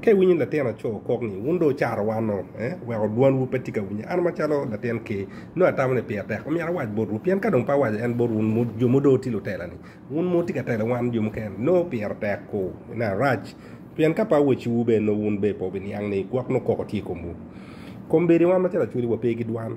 Ka iwinyo latin aco kok ni, Wun dong wucaro wan-o, weko dwanwu pe tye ka winye. An macalo latin Ker, nongo atamo ni pire tek omyero awac botwu, pien ka dong pe awaco en bot wun jo ma odong tye lutela-ni, wun ma wutye ka telo wan jo mukene, nongo pire tek-ku ni arac. Pien ka pe awacciwu bene, nongo wun bene pe wubiniang ni gwok nongo koko tye i komwu. Kombeddi wan macalo acholi wape ki dwan.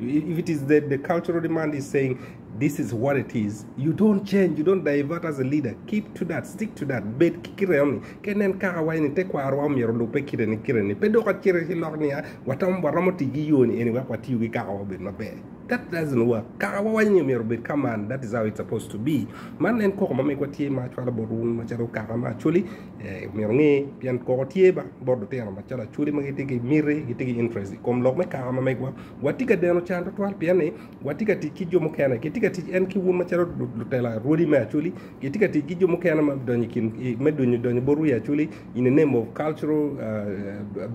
If it is that the cultural demand is saying this is what it is, you don't change, you don't divert as a leader, keep to that, stick to that, bed ki kite ni, ke nen kaka wai ni te kwaro wa omyero lupe kite ni kite ni, pe dok acire ki lok niya, watam waromo ti ki yo ni eni wek watiyo ki kaka wa obed maber. That doesn't work. Kaka wa wai ni omyero obed kaman, that is how it's supposed to be. Man en koko ma megwa tye ma acwalo bot wun macalo kaka ma Acholi, myero inge pien koko tye bot lutino macalo acholi ma gitye ki miti gitye ki interest ikom lok me kaka ma megwa watye ka deno can tutwal pien ni watye ka tic ki jo mukene kitye ka tic en ki un macalo lutela rwodi me acholi kitye ka tic ki jo mukene ma donyo i kin me donyo donyo bot wiye acholi in the name of cultural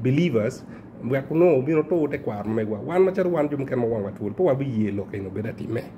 believers wek onongo obin otur tekwaro ma megwa wan macalo wan jo mukene ma wangwa twol pe wabiye lok eni obed atime.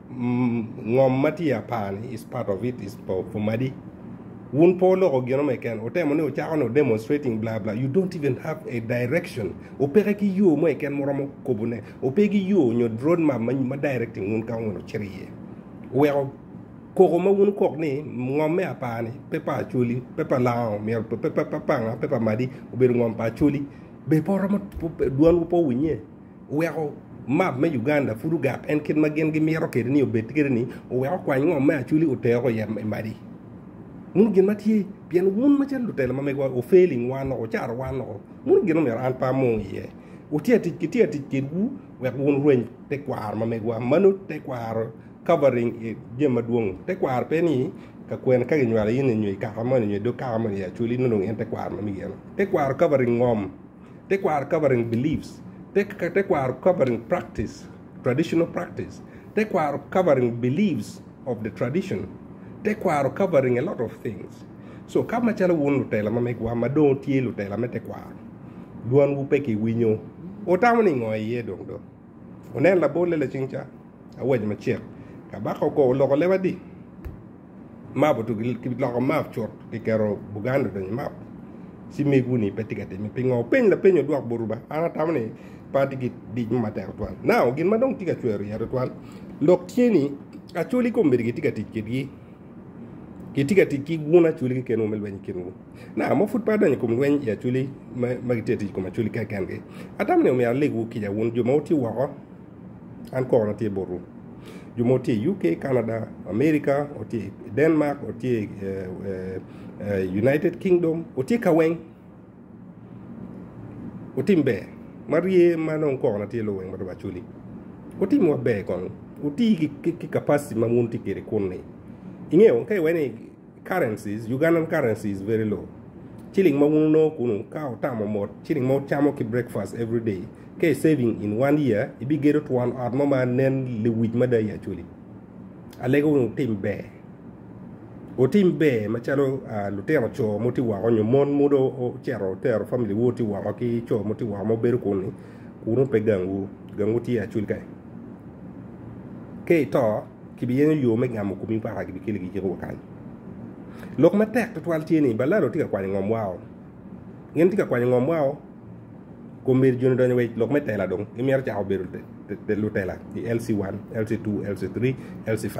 Ngom ma tye apani is part of it is for, for madi. Wun po loko gino meken, otemo ni ocako no demonstrating bla bla. You don't even have a direction. Opeke ki yo mo eken muromo kobo ne. Ope gi yo nyo road map ma, ma directing wun ka wun ocito iye. Weko koko ma wun kok ni ngom me apani pe pa acholi, pe pa lango, myero pe, pe, pe, pe panga, pe pa madi, obedo ngom pa acholi. Be po romo, dwanwu po winye? Oweko map me Uganda pud ogak en kit ma gin gimito kede ni obed kede ni oweko kwany ngom me Acholi oteko iye i madi. Muno gin ma tye pien wun macalo lutelo ma megwa o failing wan o caro wan o muno gin omyero an pe amu iye. Wutye atic ki tye atic kedwu wek wun rweny te kwaro ma megwa mano te kwaro covering i jami ma dwong te kwaro pe ni ka kwene ka ginywalo in nyo i kaka moni nyo i dog kaka moni i Acholi nongo en te kwaro ma mege eno te kwaro covering ngom. Tekwaro covering beliefs, Tekwaro covering practice, traditional practice, Tekwaro covering beliefs of the tradition, Tekwaro covering a lot of things. So ka macalo wun lutela ma megwa ma dong tye lutela me tekwaro, dwanwu pe kiwinyo, wutamo ni ngo iye dong do? Wunen labolle lacing ca, awaco macek, Kabaka okoa oloko leba di? map otugi ki loko map cut ki keto buganda odonyo map ci megu ni pe tye ka timme pingo openy lapeny odwok buruba an atamo ni pe atye ki dic mo matek twal now gin ma dong tye ka cwero iya twal lok tye ni acoli kombedi gitye ka tic kitgi gitye ka tic ki gun acoli kikenwu me lweny kinwu na mo pud pe adonyo i kom lweny i acoli ma gitye ka tic i kom acoli kenkengi atamo ni omyero alegwu kica wun jo ma wutye woko An kona tye botwu. Jo ma tye i UK, Canada, America, otye i Denmark, otye i eh, eh, eh, United Kingdom, otye ka weng. Otim ber. Ma rye ma nong kona tye lo weng ma dong aculi. Otim maber kong. Oti ki, ki, ki capacity ma wun tye kwede kunni. Ingeyo, ka iwe ni Currencies, Ugandan currency is very low. Ciling ma wun wunongo kunu ka otamo mot ciling ma wucamo ki breakfast every day, ka i saving in one year, ibigedo twon ot mo ma nen lewic mada i Acholi. Alego wun wutim ber. Wutim ber macalo ah, lutino co ma wuti woko nyo mon ma do ocito otero family wu oti woko ki co ma wuti woko ma wubedo kunu, kunu pe gangwu. Gangwu tye i Acholi kany. Ka ito, Kibiyenyo yo me gamo komi waka kibikeli ki Jehovah kany. Lok matek tutwal tye ni Balado tye ka kwanyo ngom wao. Gin tye ka kwanyo ngom wao kun myero joni odonyo wa i lok me tela dong. Gimyero cako bedo lutela i LC1, LC2, LC3, LC5.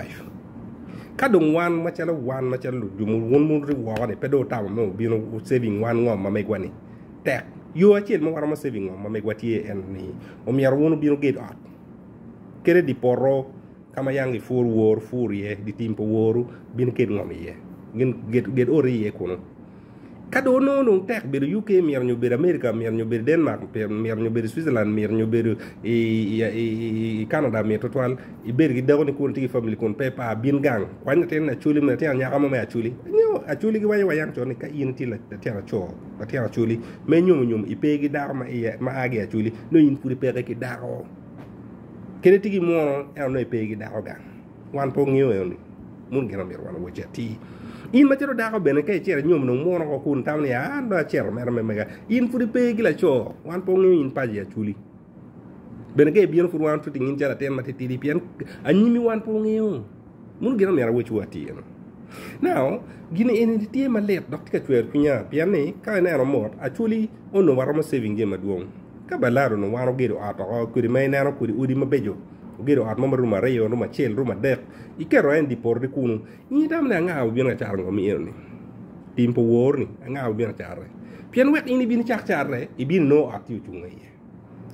Ka dong wan macalo wan macalo jo ma wun wuri woko ni pe do otamo me obino saving wan ngom ma megwa ni tek yo acel ma waromo saving ngom ma megwa tye en ni omyero wun obino ged ot kede dye poto ka ma yanggi pur wor pur iye, dye tim pa woru bino ked ngom iye, gin ged, ged oti iye kunu. Ka dong onongo dong tek bedo UK miro nyo bedo America miro nyo bedo Denmark miro nyo bedo Switzerland miro nyo bedo i, i, i, i Canada miro tutwal ibed ki dakoni kun tye ki family kun pe pa bin gang kwany latin acoli me latin anyaka mo me acoli nyo acoli gi wanyo wayan con ni ka in itye latin aco latin acoli me nyomo nyomo ipe ki dako ma, iya, ma agi acoli nyo in pud ipeke ki dako kede tye ki mwono en onongo epe gi dako gang wan pe ongeyo eno ni mun gin omyero wan owoc ati in macalo dako bene ka icero inyom dong mwono ko kun tamo ni an dong acero mera me mega in pud ipe gi laco wan pe ongeyo in paci aculi bene ka ibino pud wan tye tingin calo atin matitidi pien anyimi wan pe ongeyo Muno gin omyero awecwu atir. Nao, gin eni tye malit dok tye ka cwero cwinya pien ni ka ineno mot acwali onongo waromo saving jami madwong. Ka balado onongo wan ogedo ot oko kodi ma ineno kodi odi mabeco, ogedo ot mo ma room aryo, room acel, room adek, iketo en di porre kunu, in itamo ni anga wabino ka caro ngom eno ni? Tim pe owor ni anga wabino ka carre. Pien wek in ibin icak carre, ibino inongo ot tye ocung aye.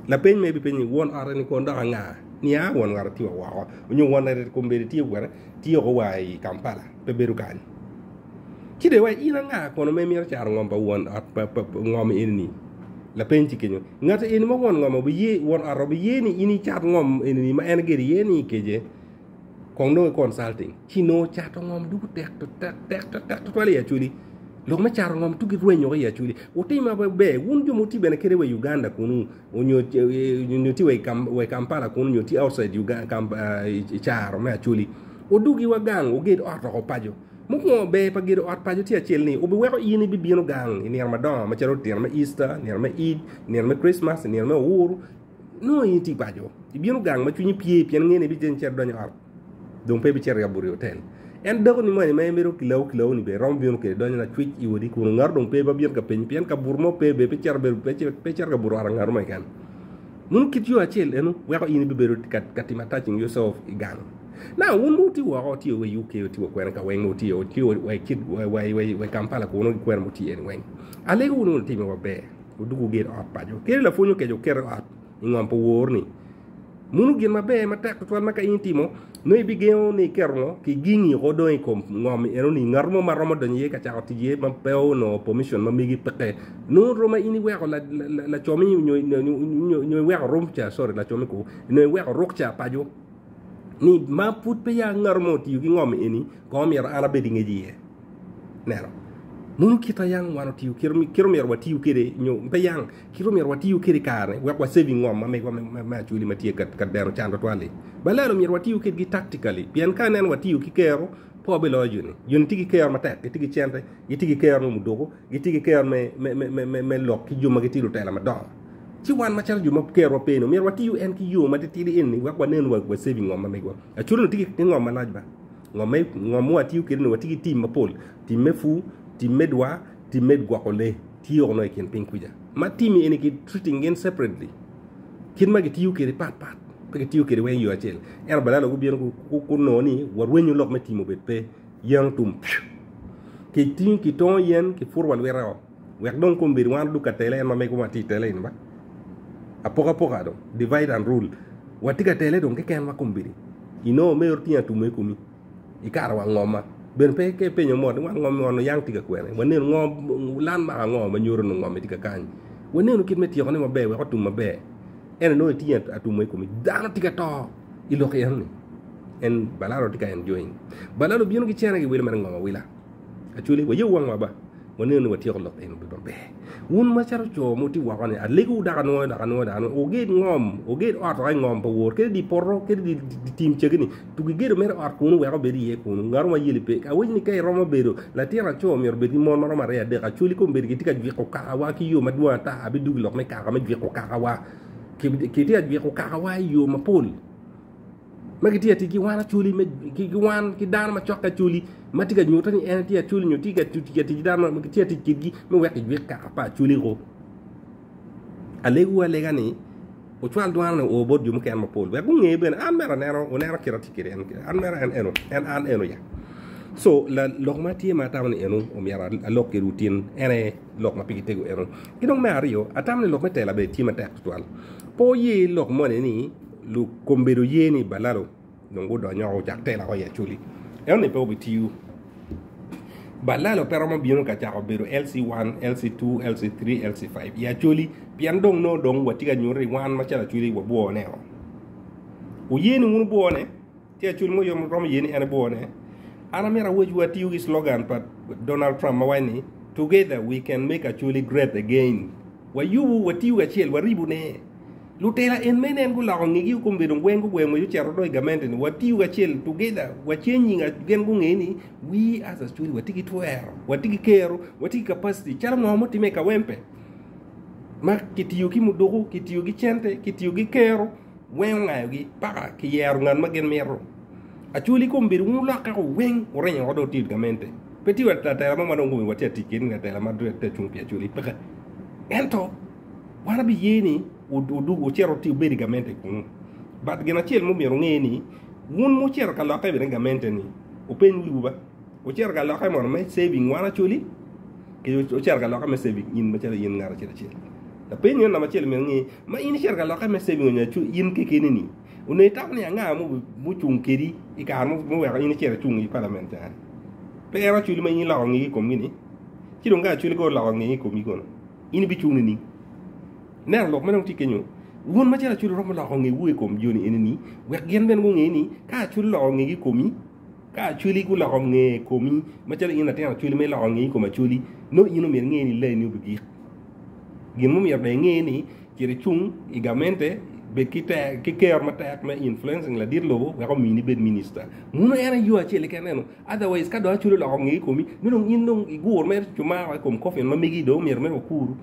Lapeny ma ibi penye, won ot eni kono dok anga? Nia won ng'ato tye wa woko, onyo won ng'ato eni kombeddi tye kwene, tye oko wa i Kampala, pe bedo kany. Ci dong iwaco, in anga kono ma imito caro ngom pa won ot pa pa ngom eni-ni? Lapeny tye kenyo, ng'ato eni ma won ngom obiye, won ot obiye ni in icat ngom eni-ni ma en gido iye ni ikece. kong nongo ki consulting ci nongo cato ngom dugo tek tek tutwal i acholi lok me cato ngom dugo girwenyo ki i acholi wutim maber wun jo ma wutye bene kit i wa i Uganda kunu nyo tye wa i Kampala kunu nyo tye outside i caro me acholi wudugi wa gang wuged ot woko paco mukwongo ber pa gedo ot paco tye acel ni wubiweko in ibibino gang i nino madongo macalo tyen me Easter, nino me Eid, nino me Christmas, nino me Owuru. nongo in itye paco, ibino gang ma cwinyi pye pien ingene ni ibicito icito idonyo ot dong pe ibicito yabo ri otel. En dako ni moni ma en bedo kilawu kilawu ni bene romo bino kede donyo lacwic i odi kun ngato dong pe ma bino ka penyi pien kabuto mo pe bene pe cito bedo pe cito ka buto ot ngato mo keken. Munu kit yo acel eno weko in ibibedo ka timo attaching yourself i gang. Na wun ma wutye woko wutye wa i UK wutye wa kwene ka weng ma wutye wutye wa i Kampala kunu ki kwene mutye ni weng. Alego wunu ni timme maber. Odwogo ogedo ot paco. Kadi lapwony okeco okete i ot i ngom pa wor-ni. Munu gin maber matek tutwal ma ka in itimo, nongo ibigengo ni iketo ngo, kigingi oko dong i kom ngom-mi eno-ni. Ngat mo ma romo donyo iye ka cako tic iye ma pe onongo pemicion ma megi peke, nongo rom ma in iweko la, la, lacomi nyo, nyo, nyo, nyo iweko rumca, sorry, lacomi kwo, nongo iweko rukca paco. Ni ma pud peya ngat mo otiyo ki ngom eni, kong omyero an abed i ngec iye. neno mono kit ma yang wan otiyo kit ma omyero watiyo kwede nyo pe yang kit ma omyero watiyo kwede i kare wek waseving ngom ma megwa me acwali ma tye ka dero can tutwal-li balelo myero watiyo kwedgi taktikali pien ka nen watiyo ki kero pe wabiloyo joni joni tye ki kero matek gitye ki cente gitye ki kero me muduku gitye ki kero me lok ki jo ma gitye lutela madongo ci wan macalo jo ma kerowa pe-ni omyero watiyo en ki yo matitidi eni wek wanen wa saving ngom ma megwa acwali-nu tye ki ngom malac ba. Ngom me ngom ma watiyo kwede ni watye ki tim mapol, tim me pur, tim me dwa, tim me gwoko lee tye woko nongo i kin piny kuca. Ma tim eni ki treating gin separately. Kit ma gitiyo kwede pat pat. Pe gitiyo kwede weng yo acel. Ento badala gubino gunongo ni warwenyo lok me tim obed pe. Yen otum piu. Kitongo yen kiputo wa lwita o. Wek dong kom bed wan odug ka tele en ma mego ma tye i tele eni ba apoka poka dong divide and rule wa tye ka tele dong keken ma kom bedi ino me oro tye atume i komi ikato wa ngoma ben pe ke penyo mot ni wa ngom ni ono yang tye ka kwene wa neno ngo lan maka ngo ma nyuto ni ngom ni tye ka kany wa neno kit me tyeko ne maber wek otum maber ene nongo itye atume i komi dano tye ka to i lok eno ni en balalo tye ka enjoying balalo bino ki cene ki wilo mere ngom awila actually wa ye wangwa ba Waneno ni watyeko lok eni obedo maber. Wun macalo co ma wutye woko ni, alegowu dok anwoyo, dok anwoyo, dok anwoyo, wuged ngom, wuged ot woko i ngom pa wor, kede di poto, kede di, di, di tim cegini, tugi gedo mere ot kunu wek obed iye kunu, ngato ma yeli pe. Awinyo ni ka iromo bedo latin aco, myero obed ki mon ma romo aryo adek. Acwali kombeddi kitye ka jwiko kakawa ki yo madwong ata, abidwogo i lok me kaka me jwiko kakawa. Ki, kitye ka jwiko kakawa i yo mapol. ma gitye ka tic ki wan Acholi me ki wan ki dano macokke Acholi ma tye ka nyutte ni en tye Acholi nyo tye ka tic ki dano ma gitye ka tic kwedgi me weko ijwik kaka pa Acholi koko alegiwu alega ni wucwal dwano ni wuo bot jo mukene mapol wek gunge bene an mere aneno wuneno kit ma atye kwede eni an mere en eno en an eno ya co la lok ma atye ma atamo ni eno omyero alok kwedwu tin en aye lok ma pigi tego eno ki dong me aryo atamo ni lok me tela bene tye matek tutwal pe wuye lok moni ni Lukombedo ye ni Balalo dong gudonyo woko ocak telo woko i Acholi. Ento ni pe obitiyo. Balalo pe romo bino ka cako bedo LC1, LC2, LC3, LC5 i Acholi pien dong nongo dong watye ka nyuto ni wan macalo Acholi wabwone-o. Wuye ni wun wubwone? Tye acul mo yom romo ye ni en ebwone. An amyero awecwu atiyo ki slogan pa Donald Trump ma waco ni, Together we can make Acholi great again. Wayubu, watiyu kacel, waribu ne. Lutela en mene en guloko ngegi o kombe dong weng gugweng ngwec ocero do i gamente ni, watiyu kacel, together, wace nying a, gen gungee ni, we as Acholi wati ki twero, wati ki kero, wati ki capacity, calo ngo mo time i Kawempe. Ma kitiyo ki muduku, kitiyo ki cente, kitiyo ki kero, weng ongayogi paka ki yero ngat ma gin mito. Acwal i kom bedo wun olokke ko weng wuringo oko dong tit gamente. Pe tye wa latela mo ma dong gumiwa tye atic kit latela ma dong tye acung pi acwali peke. Ento wan abiye ni wudug wucito wuti wubed i gamente kunu. But gin acel ma omyero wunge ni wun ma wucito ka lokke bene i gamente ni wupeny wiwu ba. Wucito ka lokke mono me saving wan Acholi ki wucito ka lokke me saving in macalo in ngat acel acel. Lapeny meno namba acel myero inge ma in icito ka lokke me saving onyo acu in kekeni ni onongo itamo ni anga mucung kedi i kare muweko in icito icung i palament ca pe en Acholi ma in iloko ngegi i komgi ni ci dong ka Acholi kong oloko ngegi i komi kono in ibicung nining? Ineno lok ma dong tye kenyo wun macalo Acholi romo loko ngewu i kom joni enini wek gin bene gunge ni ka Acholi oloko ngegi i komi Ka acholi guloko nge i komi, macalo in latin acholi ma iloko nge i kom acholi, nongo in omyero inge ni laini obigik. Gin mumyero dong inge ni cit icung i gamente bed ki tek ki kero matek me influencing ladit lobo wek omini ibed minister. Muno en aye yo acel keken eno. Otherwise ka dong acholi oloko nge i komi, nongo dong in dong igur mere cumara i kom coffin ma megi dong omyero mere wakuru.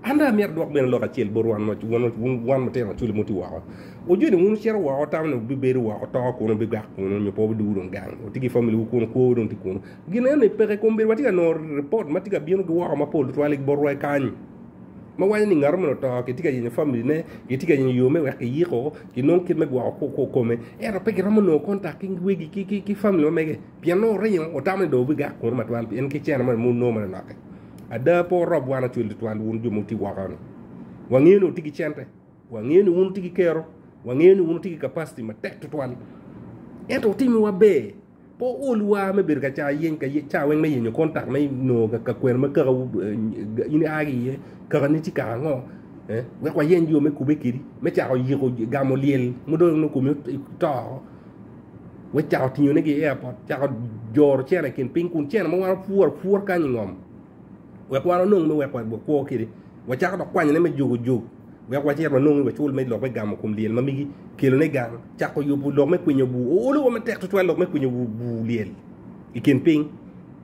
An dong amyero adwok bene lok acel bot wan ma wan wun wan matino maculi muti woko. Wajoni wun wucito woko tamo ni wubibedo woko to kuno bigak kuno nyo po duwu dong gang. Wuti ki family wu kuno kwowu dong ti kuno. Gin eno ni peke kom bedo watye ka nongo report ma tye ka bino gi woko mapol tutwal i botwa i kany. Ma waco ni ngatu meno oto kitye ka yenyo family ne, kitye ka yenyo yo me wek kiyiko, kinong kit me gwoko kome. Ento pe giromo nongo contact ki wegi ki ki ki family ma mege. Pien nongo oringo, otamo ni dong obigak kunu ma twan, pien ki cene moni ma wunongo mere lokke. Ada, pe wurob wan ocwil tutwal, wun jo ma wutye woko-ni. Wangeyo ni wutye ki cente, wangeyo ni wun wutye ki kero, wangeyo ni wun wutye ki capacity matek tutwal. Ento wutimiwa ber, pe wuol wa me bedo ka cayo yeny, ka cayo weng me yenyo kontak me nongo ka kwena ma kakawu eh, in ia ki iye, kakani tye kaka ango, eh, wek wayeny yo me kube kedi, me cako yiko gamo lyel ma dong nongo komi oto. Wek cako tingo ne gi airport, cako joro cene kin ping kun cene mo wano pur pur kanyi ngom. Wek wano nong me wek wek wek kwo kidi. Wek cako dok kwanyo ne me jugo jug. Wek wacir wa nong me wacul me lok me gamo kum liel mamigi. Kilo ne gang. Cako yubu lok me kwinyo bu. O olo wa me tek tutwa lok me kwinyo bu bu liel. Ikin ping.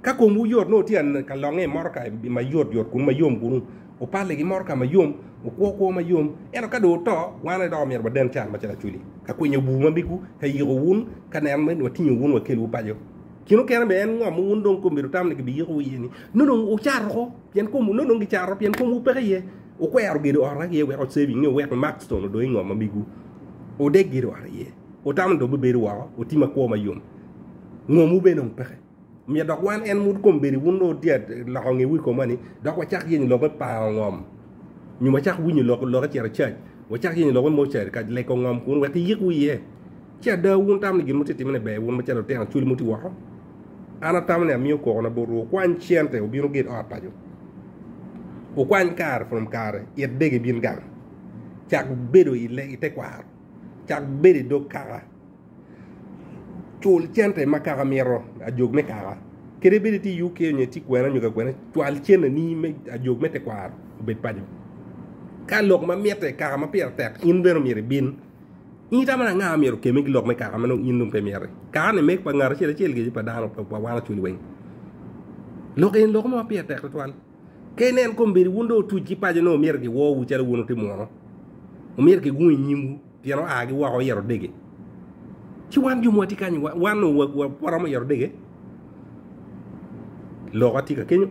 Ka kum wu yot no tia ka longe moro ka ma yot yot kunu ma yom kunu. Opalli ki motoka ma yom, okwo kwo ma yom, ento ka dong oto, wan aye dok omyero waden can macalo acwili, ka kwinyo bur ma migwu, ka yiko wun, ka neno ni watingo wun wakelwu paco. Gin mukene bene en ngomo wun dong kom myero tam ni gibiyikowu iye ni, nongo dong wucato ko, pien kom, nongo dong gicato pien komwu peke iye. Wukwero gedo ot wek iye wek ocebi nyo wek imak ctone odong ingom ma migwu. Wudeg gedo ot iye. Wutamo ni dong bibedo woko, oti ma kwo ma yom. Ngomwu bene dong peke. Omiyo dok wan en mut kom bedi wun loo dyat loko nge wi koma ni dok wacak yenyo lok me pango ngom nyo wacak winyo lok lok ecito cac wacak yenyo lok me mochari ka leko ngom kun wek iyik wiye ci ada wun tamo ni gin mo titimo ne ber wun macalo lutino cwil mo ti woko an atamo ni amiyo koko na botwu okwany cente obino git ot paco okwany kare from kare it dege bin gang cak bedo i te kwaro cak bedo i dog kaka cul cente ma kaka mito ajog me kaka kadi bed itye i UK nyo itye kwena nyo kakwena cwal cenneni me ajog me tekwaro obed paco ka lok ma mitte kaka ma pire tek in bene omyero ibin in itamo ni anga ma myero okemme ki lok me kaka ma nongo in dong pe imiti kakani meg pa ngat acel acel kece pa dano pa wan ocwil weng lok eni lok mo ma pire tek tutwal Ka ineno kombeddi wun dong otuc ki paco nongo myero giwowu calo wun wutimo nono. Omyero gigung i nyimwu pien oagi woko i Erodege. Ci wan jo ma watye kany-ni, wa- wan nongo wa- wa- waromo i Erodege. Loka tye ka kenyo.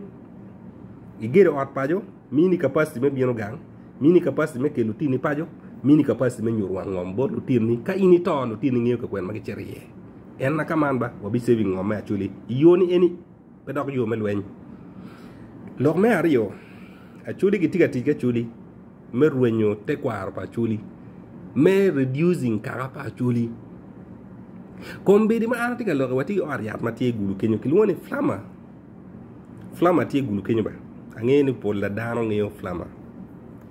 Igedo ot paco, mini capacity me bino gang, mini capacity me kelo lutini paco, mini capacity me nyuto wang ngom bot lutinni. Ka in ito, lutinni ngeyo kakwena ma gicito iye. En na ka man ba, wabi saving ngom me actually i yo ni eni. pe dok yo me lweny. Lok me aryo, Acholi gitye ka tic ki Acholi me rwenyo tekwaro pa Acholi, me reducing kaka pa Acholi. Kombeddi ma an atye ka lokke watye ki ot yat ma tye gulu kenyo kilwongo ni Flammer. Flammer tye gulu kenyo bene. Angeyo ni pol pa dano ngeyo Flammer.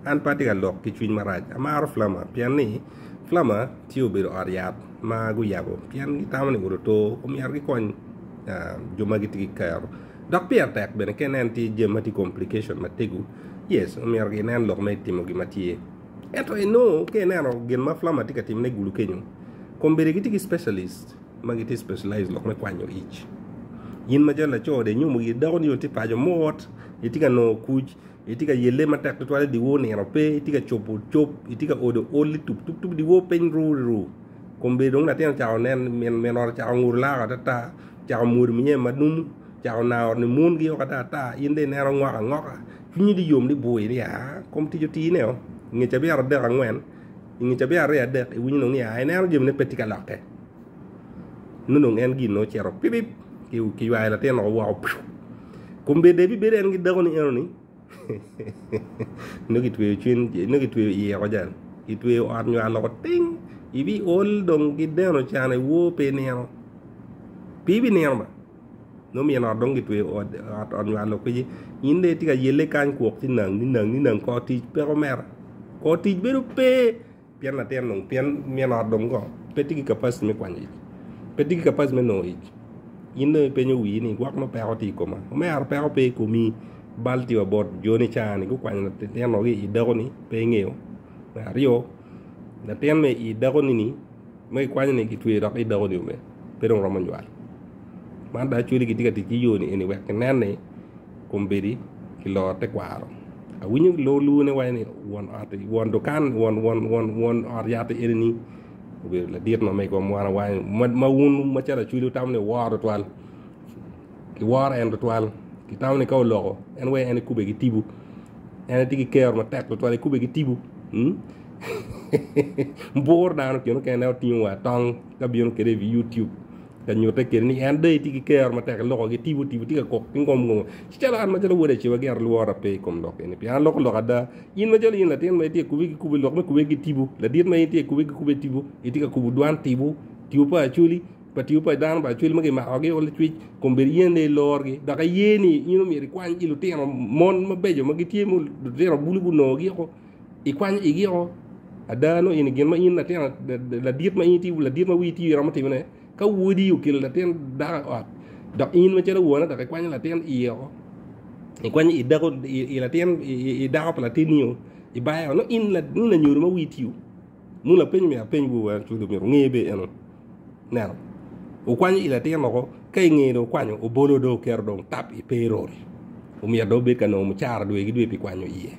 An pe atye ka lok ki cwiny marac. Amaro Flammer pien ni Flammer tye obedo ot yat ma guyabo pien gitamo ni ot oto omyero gikony jo ma gitye ki kero dok pire tek bene ka inen tye jami ma tye complication matego yes omyero ginen lok ma itimo gin ma tye ento inongo ka ineno gin ma plumber tye ka timone igulu kenyo kombeddi gitye ki specialist ma gitye specialized lok me kwanyo ic in macalo laco ode inyomo giri dako ni onongo tye paco mot itye ka nongo kuc Itye ka yelle matek tutwal i dyewor nino pe, itye ka cobo cob, itye ka odo ol ni tup tup tup dyewor piny ru ri ru. Kombeddi dong latin ocako nen, min min ot ocako nguto laro ata ata, ocako mwodo minyeme ma numu, ocako nayo ot ni mungi oko ata ata, in dong ineno ngok angoka, cwinyi dong yom dong ibwoyi ni aa kom tic otine oo, i nge cabiya aradek angwen, i nge cabiya aryo adek iwinyo dong ni aa ineno jami ne pe tye ka lokke, nongo dong en gin-nu ocito pipip, kiywayo latin-nu woko piu. Kombe de bibedo en ki dako ni eno ni nongo kitweyo cwiny nongo kitweyo iye oko can kitweyo ot nyo aloko ting ibi ol dong ki deno can iwor pe inino pe ibi nino ba nongo myen ot dong kitweyo ot ot nyo alok kwiji in de itye ka yelle kany kwok ci nang ni nang ni nang kor tic peko mera kor tic bedo pe Pien latin dong, pien min ot dong go, pe tye ki capacity me kwanyo ic, pe tye ki capacity me nongo ic. In dong ipenyo wii ni gwok nongo peko tye i koma. Omera peko pe i komi, bal tye wa bot jo ni cawa ni gukwanyo latinwa ki i dako ni pe ingeyo. Me aryo, latin me i dako ni ni ma kikwanyo ni kitweyo dok i dako ni omera pe dong romo nywal. Man dong actually kitye ka tic ki yo ni eni wek kinen ni kombeddi ki loro tekwaro. Awinyo lor luwo ne waco ni won ot won dukan won won won won ot yat eni ni obedo ladit ma mego mwan awany ma wun ma calo acwili utamo ni woro twal ki woro en twal ki tamo ni ka oloko en wee en ikube ki tibu en ti ki kero matek twal ikube ki tibu hmm? bur dano kino kene otingo wa tong ka bino kede i YouTube Ka nyutte kede ni en dong itye ki kero matek ilokogi tipo tipo tye ka kok ki ngom ngom ci calo an macalo wod aciwa gin lwora pe i kom lok eni pien aloko lok ada in macalo in latin ma itye kubi ki kubi lok me kube ki tipo ladit ma in tye kubi ki kube tipo itye ka kubu dwan tipo tipo pa acoli pa tipo pa dano pa acoli ma kimakogi o licwic kombeddi yen dong ilorgi dok aye ni in omyero ikwany ki lutino mon mabeco ma gitye ma lutino bulu gunongo gi o Ikwanyo igi o ada nongo in gin ma in latin ladit ma in ti ladit ma wii ti iromo timone ka wodi okelo latin dako i ot dok in macalo wone dok ikwanyo latin iye o ikwanyo i dako i latin i dako pa latinni o ibayo nongo in nongo lanyodo ma wii ti Munu apeny myero apeny wu were cwalo myero wunge be eno neno wukwanyo i latin loko ka i nge dong wukwanyo obolo dong wuketo dong tap i payroll omyero dong wubed ka nongo mucara dwe ki dwe pi kwanyo iye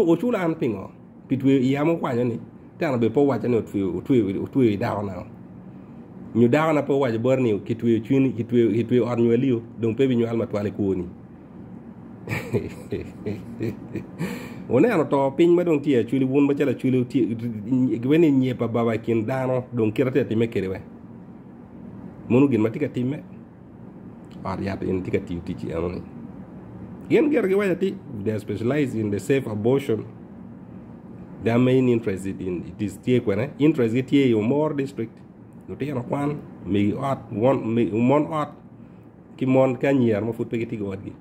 wuculo an pingo pi tweyo iya ma wukwanyo ni teno obedo pe owaco ni otweyo i dako na nyo dako na pe owaco boti ni kitweyo cwiny kitweyo ot nywali dong pe binywal matwal i kwoni. Wuneno to piny ma dong tye i acwili, wun macalo acwili, gibedo ni nyep ababa i kin dano dong kite tye ka timme kede we. Mono gin ma tye ka timme, ot yat eni tye ka tiyo tic enoni. Gin gire giwaco ati, they specialize in the safe abortion, their main interest is in, it is tye kwene, interest gi tye i Omoro district, lutino kwan, megi ot, mon ot, ki mon ki anyira ma pud pe gitye ki watgi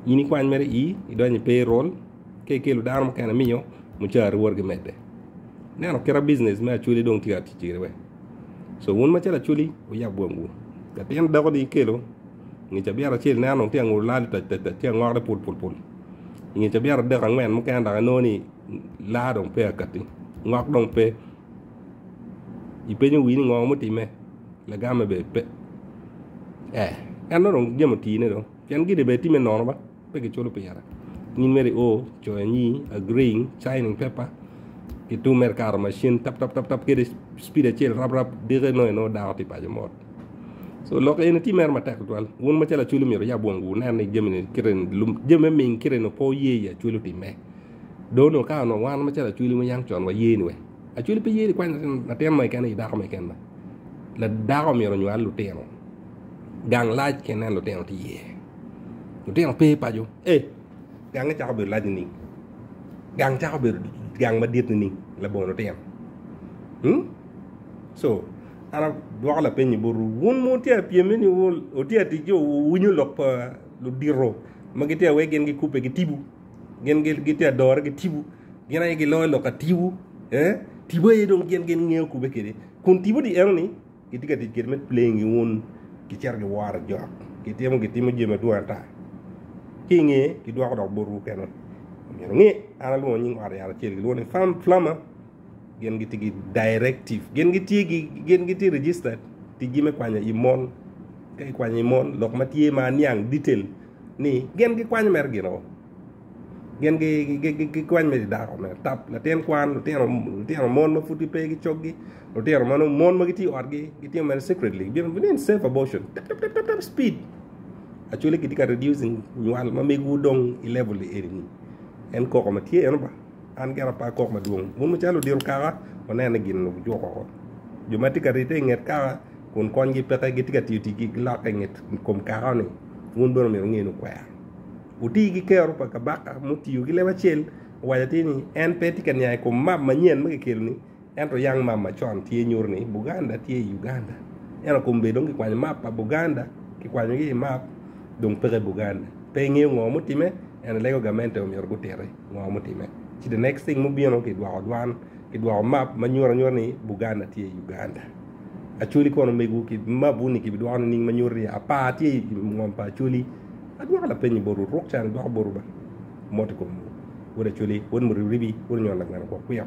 in ikwany mere i idonyo i payroll ka ikelo dano mukene miyo mucari wot ki medde neno kit business me acholi dong tye ka tic kwede wek so wun macalo acholi wuyab bwomwu latin dako ni ikelo nge cabiat acel ineno dong tye ka ngolo lal tac tac tac tye ka ngore pul pul pul inge cabiat adek angwen mukene dok inongo ni laa dong peya kati ngok dong pe ipenyo wii ni ngo mutime lagame bene pe eh en dong jami otii ne dong pien gine bene tye me nono ma pe kiculo pire in mere ior coyo anyi agreeing signing paper ki tung mere ikato macin tap tap tap kadi cipid acel rap rap diki nongo inongo dako tye paco mot so lok eni tye mere matek tutwal wun macalo acwalo myero wuyab wongu wunen ni jami ni kite ni lub jami me ming kite ni pe wuye i acwalo time dong onongo ka onongo wan macalo acwali wuneno con waye ni wek Acholi pe ye nikwany latin mo keken aye dako mo keken dako myero onywal lutino gang lac ka ineno lutino tye iye lutino pe paco ee gange cako bedo lac nining gang cako bedo gang madit nining labongo lutino hmm co an adwoko lapeny ni botwu wun ma wutye ka pyem ni wutye ka tic ki owinyo lok pa ludito ma gitye ka wek gin gikubbe gitibu. gin gitye adore ki tibu gin aye giloyo lok ka tibu eh tibu aye dong gin gin ngeyo kube kede kun tibu di eno ni gitye ka tic kede me playing gi wun gicito giworo jok gitimo gitimo jami madwong ata ki inge gidwoko dok botwu kene omyero inge an alwongo nying ot yat acel gilwongo ni flam flama gin gitye ki directive gin gitye gi gin gitye registered tijgi me kwanyo i mon ka ikwanyo i mon lok ma tye ma aniang detail ni gin gikwanyo mere gino gin gikwanyo mere dako mere tap latin kwan lutino lutino mon ma pud gipe ki coggi lutino ma nongo mon ma gitye i otgi gitimo mere secretly gibino bino in safe abortion tap tap tap tap speed actually kitye ka reducing nywal ma megiwu dong i level eni en koko ma tye eno ba. An gire apar kok madwong. Wun wucalo odiro kaka, wuneno ni gin wujuko woko. Jo ma tye ka rite i nget kaka kun konygi peke gitye ka tiyo ticgi ki lokke i nget kom kaka-ni, wun bene omyero wunge ni wukwero. Wuti ki kero pa kabaka mutiyo ki leb acel, owaco atir ni, En pe tye ka niang i kom map manyen ma kikelo-ni, Ento Young Map macon tye nyuto ni Buganda tye i Uganda. Ento kombe dong kikwanyo map pa Buganda, kikwanyogi i map, dong peke Buganda. Pe ingeyo ngo mutime, ento ilego gamente omyero gutiti ngo mutime. Ci the next thing mubino kidwoko dwan, kidwoko map ma nyuto anyuta ni Buganda tye i Uganda. Acholi kono omegwu ki mabwu ni kibidwoko nining ma nyuto ni apar tye i ngom pa Acholi? Adwoko lapenyi botwu, ruk can idwok botwu ba. Mot i komwu. Wod Acholi, wod Muribiribi, wod Onyon Lagweno Kwokwiko.